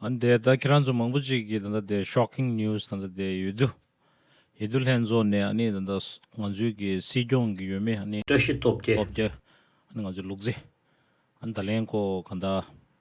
ཨ་འདས་ད་ཁྱེད་རང་ཚོ་མང་པོ་ཅིག་གིས་ད་ལྟ་དེ Shocking News ད་ལྟ་དེ་ཡོད་དུ་ཡོད་དུ་ལྷན་འཛོགས་ནས་ཨ་ནི་ད་ལྟ་ང་ཚོའི་གི་སྲིད་སྐྱོང་གི་ཡོད་མེད་ཨ་ནི་བཀྲ་ཤིས་སྟོབས་རྒྱལ། སྟོབས་རྒྱལ། ཨ་ནི་ང་ཚོའི་ལུག་རྫི། ཨ་ནི་ད་ལན་ཁོ་ག་ད།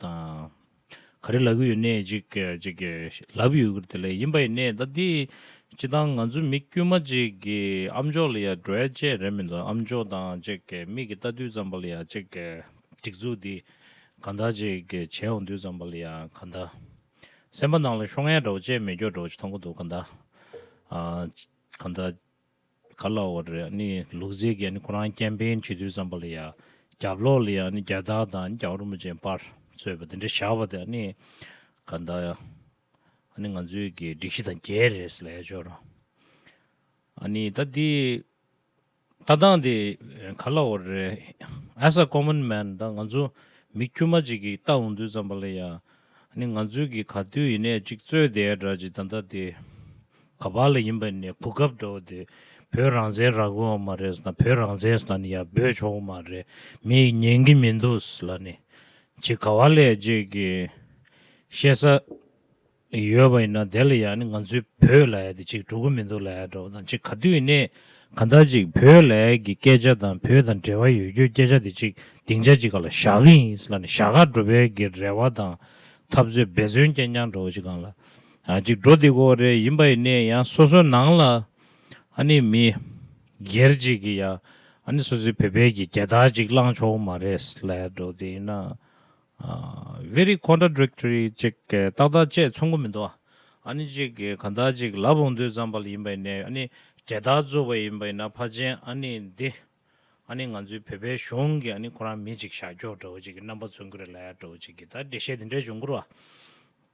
དང། ག་རེ་ལབ་གི་ཡོད་ནད་ཅིག་ཅིག་ལབ་ཡོད་གི་དེ་ལས་ཡིན་པ་ཡིན་ནད་ད་འདི་སྤྱི་དང་ང་ཚོ་མི་དཀྱུས་མ་ཅིག་གི་ཨམ་ཅོག་ལ་ཡ་འགྲོ་ཡ་ཅེས་རེད་མི་འདུག་ཨམ་ཅོག་དང་ཅིག་མིག་གི་ལྟ་དུས་ཙམ་པ་ལ་ཡ་ཅིག་སྒྲིག་འཛུགས་འདི་ག་འདྲ་ཅིག་བྱས་འོང་དུས་ཙམ་པ་ལ་ཡ་ག་འདྲ། སེམས་པ་ནང་ལ་ཤོ་ངས་འགྲོ་ཅེས་མེ་སྒྱོགས་འགྲོ་ཅིག་མཐོང་གི་འདུག་ག་འདྲ། ག་འདྲ། ག་ལ་བ་རེད་ཨ་ནི་ལུག་རྫི་དགེ་ནི་ཁོ་རང་ཀེམ་པེན་བྱེད་དུས་ཙམ་པ་ལ་ཡ་རྒྱབ་ལོག་ལ་ཡ་ཨ་ནི་རྒྱ་སྟག་དང་ཨ་ནི་རྒྱ་རོ་མོ་ཅན་པར་ཚོས་པ་དེ་འདྲ་བཞག་པ་དེ་ཨ་ནི་ག་འདའ་ཡ་ཨ་ནི་ང་ཚོའི་གི་སྒྲིག་གཞི་དང་འགལ་རེད་ཟེར་ལ་ཡ་ཅོ་རང་ཨ་ནི་ད་འདི་ལྟ་སྟངས་དེ་ག་ལ་བ་རེད་ཨེ་ས་ཀོ་མོན་མན་ད་ང་ཚོ་མི་དཀྱུས་མ་ཅིག་གི་ལྟ་འོང་དུས་ཙམ་པ་ལ་ཡ། ནི་ང་ཚོའི་གི་ག་དུས་ཡིན་ནས་ཅིག་རྩོད་དེའི་སྒྲ་ཅིག་ད་ལྟ་དེ་ག་བ་ལ་ཡིན་པ་ནི་གོ་སྐབས་འདྲ་བོ་དེ་བོད་རང་བཙན་རག་གོ་མ་རེད་ཟེར་ན་བོད་རང་བཙན་ཟེར་ན་ནི་ཡར་འབོད་ཆོག་གོ་མ་རེད་མི་ཡིས་ཉན་གི་མི་འདུག་ཟེར་ལ་ནི་ཅིག་ག་བ་ལས་ཅིག་གི་བཤད་ས་ཡོད་པ་ཡིན་ན་དེ་ལ་ཡང་ནི་ང་ཚོའི་བོད་ལ་ཡ་དེ་ཅིག་འགྲོ་གི་མི་འདུག་ལ་ཡ་འདྲ་བོ་དང་ཅིག་ག་དུས་ཡིན་ནས། གང་ལྟར་ཅིག་བོད་ལྭའི་གི་སྐད་ཆ་དང་བོད་དང་འབྲེལ་བ་ཡོད་རྒྱུ་སྐད་ཆ་དེ་ཅིག་སྡིངས་ཆ་ཅིག་ག་ལ་ཞག་གི་ཡིན་ལ་ནི་ཞག་ཁ་འགྲོ་བའི་གི་རེ་བ་དང་འཐབ་རྩོད་འབད་བརྩོན་སྐྱེན་རྐྱང་འགྲོ་བ་ཅིག་གང་ལ་ཅིག་འགྲོ་འདི་གོ་རེ་ཡིན་པ་ཡི་ནི་ཡང་སོ་སོའི་ནང་ལ་ཨ་ནི་མི་སྒེར་ཅིག་གི་ཡ་ཨ་ནི་སོ་སོའི་བོད་པའི་གི་རྒྱལ་དར་ཅིག་བླངས་ཆོག་མ་རེད་ལྭའི་འགྲོ་འདི་ཡིན་ན Very Contradictory ཅིག་ཏག་ཏག་བཅས་མཚུངས་པོ་མི་འདུག་ཨ་ནི་ཅིག་གང་དག་ཅིག་ལ་བོང་དུད་ཙམ་པ་ཡིན་པ་ནས་ཨ་ནི་དེ་དག་རྩོད་པ་ཡིན་པ་ཡིན་ན་ཕ་ཆེན་ཨ་ནི་འདི་ཨ་ནི་ང་ཚོའི་བོད་པའི་གཞུང་གི་ཨ་ནི་ཁོ་རང་མི་ཅིག་ཞག་འཁྱོག་འདྲ་བོ་ཅིག་གི་རྣམ་པ་མཚོན་གྱི་རེད་ལ་ཡ་འདྲ་བོ་ཅིག་གི་ད་འགྲེལ་བཤད་འདི་འདྲས་འབྱུང་དགོས་རོ།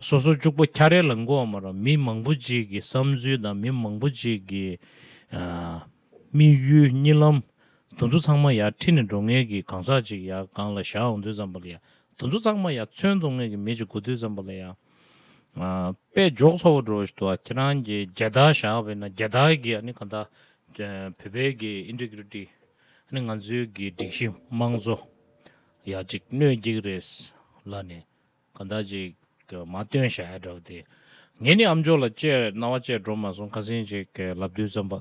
སོ་སོ་ཅུག་པོ་ཁྱ་རེ་ལ་མགོ་བ་མ་རང་མི་མང་པོ་ཅིག་གི་བསམ་ཚུལ་དང་མི་མང་པོ་ཅིག་གི་དམིགས་ཡུལ་གཉིད་ལམ་དུ་འདུ་ཚང་མ་ཡར་ཁྲིད་ནས་འགྲོ་ངེས་ཀྱི་གང་ཟག་ཅིག་ཡར་སྒང་ལ་བཞག་འོང་དུས་ཙམ་པ་ལ་ཡར་དུ་འདུ་ཚང་མ་ཡར་མཚོན་འདོང་ངེས་ཀྱི་མི་ཅིག་དགོས་དུས་ཙམ་པ་ལ་ཡར་དཔེ་འཇོག་ཚོགས་པ་འགྲོ་དུས་ཁྱེད་རང་གི་རྒྱལ་རྟགས་བཞག་པས་ན་རྒྱལ་རྟགས་ཀྱི་ཨ་ནི་གང་ལྟར་བོད་པའི་གི Integrity ཨ་ནི་ང་ཚོའི་གི་སྒྲིག་གཞི་དམངས་གཙོ་ཡག་ཅིག་གནོད་ཀྱི་རེད་ལབ་ནས། གང་དག་ཅིག། མ་སྟོན་ཞལ་བགྲད་པ་དེ། ངས་ནི་ཨམ་ཅོག་ལ་སྤྱད། རྣ་བ་སྤྱད་འགྲོ་མ་སོང་ཁ་ཟིན་ཅིག། ལབ་རྡུལ་ཙམ་པ།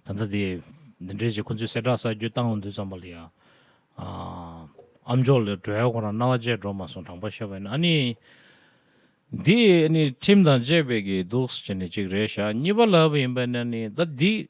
གང་དག་དེ། འདི་འདྲའི་ཅིག་ཁོ་ཚོས་གསལ་བསྒྲགས་གསར་འགྱུར་བཏང་འོངས་འདུག་ཙམ་པ་ལ་ཡང། ཨམ་ཅོག་ལ་བགྲོད་ཡ་ཁོ་རང་རྣ་བ་སྤྱད་འགྲོ་མ་སོང་དྲང་པར་བཤད་པ་ཡིན་ན་ཨ་ནི། འདི་ནི་ཁྲིམས་དང་བཅས་པའི་གི་འདུག་ཅེས་ནི་ཅིག་རེ་བཞག་གཉིས་པ་ལབ་པ་ཡིན་པས་ན་ནི་ད་འདི།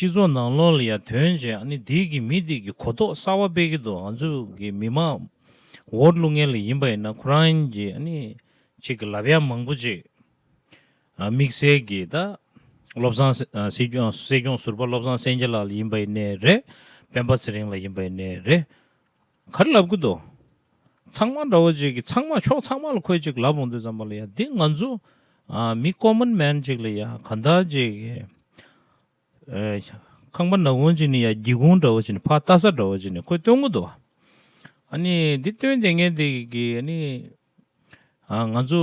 སྤྱི་ཚོགས་ནང་ལོག་ལ་ཡང་དོན་ཅན་ཨ་ནི་འདི་གི་མི་འདི་གི་གོ་རྟོགས་གསར་བ་སྤེལ་གྱི་འདུག་ང་ཚོ་གི་མི་མང་བོར་བླུ་ངན་ལ་ཡིན་པ་ཡིན་ན་ཁོ་རང་གི་ཨ་ནི་ཅིག་གི་ལབ་ཡ་མང་པོ་ཅིག་དམིགས་བསལ་གྱི་ད་བློ་བཟང་སྲིད་སྐྱོང་ཟུར་པ་བློ་བཟང་སེང་གེ་ལགས་ལ་ཡིན་པ་ཡིན་ནའི་རེད་སྤེན་པ་ཚེ་རིང་ལ་ཡིན་པ་ཡིན་ནའི་རེད་གར་ལབ་ཀི་འདུག། ཚང་མ་འདྲ་བོ་གཅིག་གིས་ཚང་མ་ཕྱོགས་ཚང་མ་ལ་ཁོས་ཅིག་ལབ་འོང་དུས་ཙམ་པ་ལ་ཡ་འདི་ང་ཚོ་མི common man ཅིག་ལ་ཡ་ག་འདྲ་ཅིག་ཁང་པ་ནག་གུང་ཅིག་ནས་ཡ་སྒྱིད་གུང་འདྲ་བོ་ཅིག་ནས་ཕ་རྟ་ས་འདྲ་བོ་ཅིག་ནས་ཁོས་སྟོན་གི་འདུག་ཨ་ནི་འདི་སྟོན་དེ་ངས་འདི་གི་ཨ་ནི་ང་ཚོ་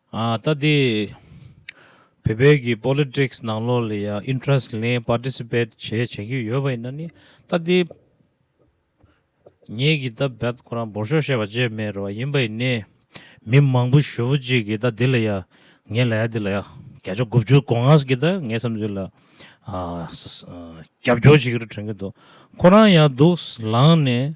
ལྟ་དེ། བོད་པའི་གི Politics ནང་ལོགས་ལ་ཡང Interest ལེན Participate བྱས་བྱེད་ཀྱི་ཡོད་པ་ཡིན་ན་ནི་ལྟ་དེ། ངས་གི་ད་བད་ཁོ་རང་འབོར་ཤོག་བཤད་པ་བཅད་མེད་རེད་བ་ཡིན་པ་ཡིན་ནི། མི་མང་པོ་ཞོ་བོ་ཅིག་གི་ལྟ་དེ་ལ་ཡང་ངས་ལ་ཡ་དེ་ལ་ཡང་བརྒྱ་ཆ་དགུ་བཅུ་གོང་ངས་གི་ད་ངའི་བསམ་ཚུལ་ལ། རྒྱབ་སྐྱོར་བྱེད་ཀྱི་རུ་དྲན་གྱི་འདུག་ཁོ་རང་ཡང་སྡུག་ལངས་ནས།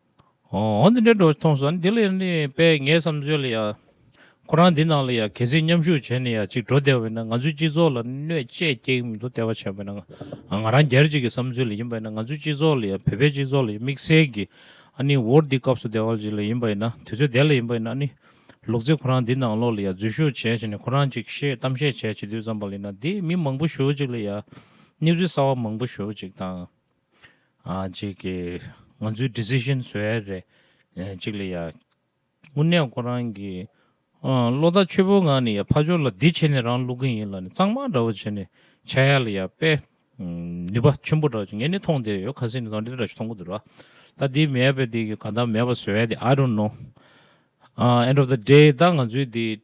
འདི་འདྲའི་སྒྲོ་མཐོང་སོང་འདི་ལས་ནི་པས་ངའི་བསམ་ཚུལ་ལ་ཡང། ཁོ་རང་འདི་ནང་ལ་ཡང་གལ་སྲིད་མཉམ་ཞུགས་བྱས་ནས་ཡང་ཅིག་འགྲོ་བདེ་བ་ཡིན་ན་ང་ཚོའི་སྤྱི་ཚོགས་ལ་གནོད་བཅས་སྐྱེལ་མི་འདུག་ལྟ་བ་བྱས་པ་ཡིན་ན་ང་རང་རྒྱལ་གཅིག་གི་བསམ་ཚུལ་ལ་ཡིན་པ་ཡིན་ན་ང་ཚོའི་སྤྱི་ཚོགས་ལ་ཡང་བོད་པའི་སྤྱི་ཚོགས་ལ་ཡང་དམིགས་བསལ་གྱི་ཨ་ནི་འོར་འདི་སྐབས་སུ་བདེ་བ་ཅིག་ལ་ཡིན་པ་ཡིན་ན་དུས་ཚོད་བདེ་ལ་ཡིན་པ་ཡིན་ན་ཨ་ནི་ལུག་རྫི་ཁོ་རང་འདི་ནང་ལོགས་ལ་ཡང་འཛུལ་ཞུགས་བྱས་བྱས་ནས་ཁོ་རང་ཅིག་བཤད་གཏམ་བཤད་བྱས་བྱས་དུས་ཙམ་པ་ལ་ཡིན་ན་འདི་མི་མང་པོ་ཞུགས་ཅིག་ལ་ཡང་སྣེ་འཛུལ་གསར་བ་མང་པོ་ཞུགས་ཅིག་དང། གཅིག་གི་ང་ཚོའི decision བཟོ་ཡ་རེད། གཅིག་ལ་ཡ། དངོས་གནས་ཁོ་རང་གི། བློ་རྟ་ཆོད་པོ་ངང་ནས་ཡ་ཕ་ཇོ་ལ་འདི་བྱས་ནས་རང་བླུག་གི་ཡིན་ལ་ནི་གཙང་མ་འདྲ་བོ་བྱས་ནས་བྱ་ཡ་ལ་ཡ་དཔེ། ནུས་པ་ཆེན་པོ་འདྲ་བོ་བྱས་ངས་ནི་མཐོང་དེ་ཡོད་ཁ་སེ་ནི་དང་འདི་འདྲ་བྱས་མཐོང་གི་འདུག་ར། ད་འདི་མེད་པས་འདི་གི་ག་འདམ་མེད་པ་བཟོ་ཡ་དེ I don't know། end of the day ད་ང་ཚོའི་འདི།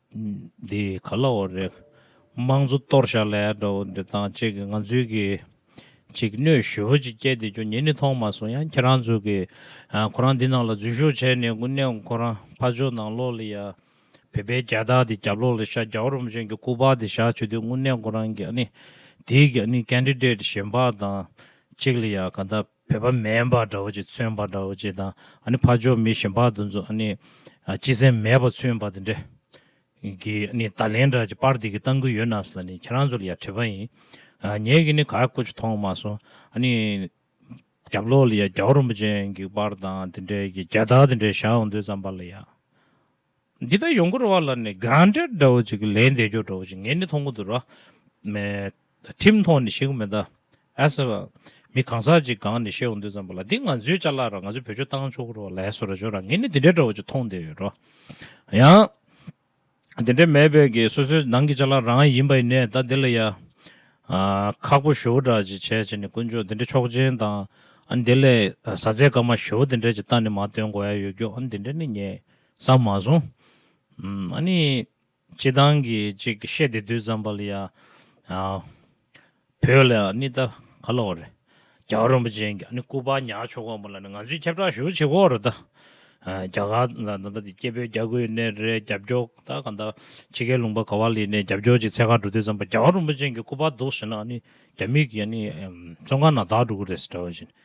འདི་ག་ལ་འོ་རེད། དམངས་གཙོ་གཏོར་བཤགས་ལས་འདྲ་བོ་འདི་བཏང་བཅས་ཀྱི་ང་ཚོའི་གི་ཅིག་སྣོད་ཞི་བོ་ཅིག་སྐྱེས་འདི་ཅུང་ཉེ་ནས་མཐོང་མ་སོང་ཡང་ཁྱེད་རང་ཚོ་གི་ཁོ་རང་འདི་ནང་ལ་འཛུལ་ཞུགས་བྱས་ནས་དགུན་ནས་ཁོ་རང་ཕར་ཕྱོགས་ནང་ལོག་ལ་ཡ་བོད་པའི་རྒྱལ་དར་འདི་རྒྱབ་ལོག་ལ་བཞག་རྒྱ་བོ་རོམ་ཅན་གྱི་སྐུ་པར་འདི་བཞག་བྱོས་དུས་དགུན་ནས་ཁོ་རང་གི་ཨ་ནི་དེའི་གི་ཨ་ནི Candidate གཞན་པ་དང་གཅིག་ལ་ཡ་ག་འདའ། བོད་པ་མེན་པ་འདྲ་བོ་ཅིག་མཚོན་པ་འདྲ་བོ་ཅིག་དང་ཨ་ནི་ཕ་ཇོ་མི་གཞན་པ་དུ་ཚོ་ཨ་ནི་སྤྱི་སེམས་མེད་པ་མཚོན་པ་དེ་འདྲ་གི་ཨ་ནི་ད་ལན་འདྲ་ཅིག་པར་འདི་གི་བཏང་གི་ཡོད་ནའས་ལ་ནི་ཁྱེད་རང་ཚོ་ལ་ཡ་དྲི་བ་ཡིན། ངེད་ཀྱི་ནི་ག་ཀོ་ཅིག་མཐོང་མ་སོང་ཨ་ནི་རྒྱབ་ལོག་ལ་ཡ་རྒྱ་བོ་རིན་པོ་ཅན་གྱི་པར་དང་དེ་འདྲ་གི་རྒྱ་དག་དེ་འདྲ་བཞག་འོང་དུས་ཙམ་པར་ལ་ཡ། འདི་ལྟར་ཡོང་གི་རེད་བ་ལ་ནི་གང་འདྲ་འདྲ་བོ་ཅིག་ལན་འདེབས་རྒྱུ་འདྲ་བོ་ཅིག་ངས་ནི་མཐོང་གི་འདུག་ར་མེད། ཁྲིམས་ཐོག་ནས་བཤད་གི་མེད་ད། ཨེས་ཨ། མི་གང་ཟག་ཅིག་སྒང་ནས་བཤད་འོང་དུས་ཙམ་པ་ལ་འདི་ང་ཚོའི་བཅའ་ལག་ར་ང་ཚོའི་བོད་ཆོས་བཏང་ཆོག་གི་རེད་བ་ལ་ཨེས་ར་ཅོ་ར་ངས་ནི་འདི་འདྲ་འདྲ་བོ་ཅིག་མཐོང་བསྡད་ཡོད་ར། ཡང། འདི་འདྲ་མེད་པས་ཀྱི་སོ་སོའི་ནང་གི་བཅའ་ལག་རང་ཡིན་པ་ནས་ད་འདི་ལ་ཡ། ཁག་པོ་ཞུ་འདྲ་ཅིག་བྱས་བྱས་ནས་དཀོན་མཆོག་འདི་འདྲ་མཆོག་སྦྱིན་དང། འདི་ལས་ཟ་ཟས་སྐར་མ་ཞུ་འདི་འདྲ་ཅིག་ལྟ་ནི་མ་སྟོན་དགོས་ཡ་ཡོད་རྒྱུ་འདི་འདྲ་ནི་ངས། ས་མ་བཟུང། ཨ་ནི། སྤྱི་བཏང་གི་ཅིག་བཤད་དེ་དུས་ཙམ་པ་ལ་ཡ། བོད་ལ་ཨ་ནི་ད་ག་ལ་བ་རེད། རྒྱ་གར་རིན་པོ་ཆེ་ཨ་ནི་སྐུ་པར་ཉག་མཆོག་གོང་པ་ལ་ནི་ང་ཚོས་ཁྱབ་བསྒྲགས་ཞུ་བྱེད་གོ་རེད་ད། རྒྱ་གར་ད་ལྟ་འདི་སྐྱེ་བོས་རྒྱ་གོས་ནས་རེད་རྒྱབ་སྐྱོག་ད་ག་འདའ། ཕྱི་རྒྱལ་ལུང་པ་ག་བ་ལི་ནས་རྒྱབ་སྐྱོག་ཅིག་ཚད་ཁ་འགྲོ་དུས་ཙམ་པ་རྒྱ་གར་རིན་པོ་ཆེ་གི་སྐུ་པར་འདུག་ཟེར་ན་ཨ་ནི་རྒྱ་མིག་གི་ཨ་ནི་ཙོང་ཁ་ན་དག་འགྲོ་གི་རེད་ཟེར་འདྲ་བ་བཞིན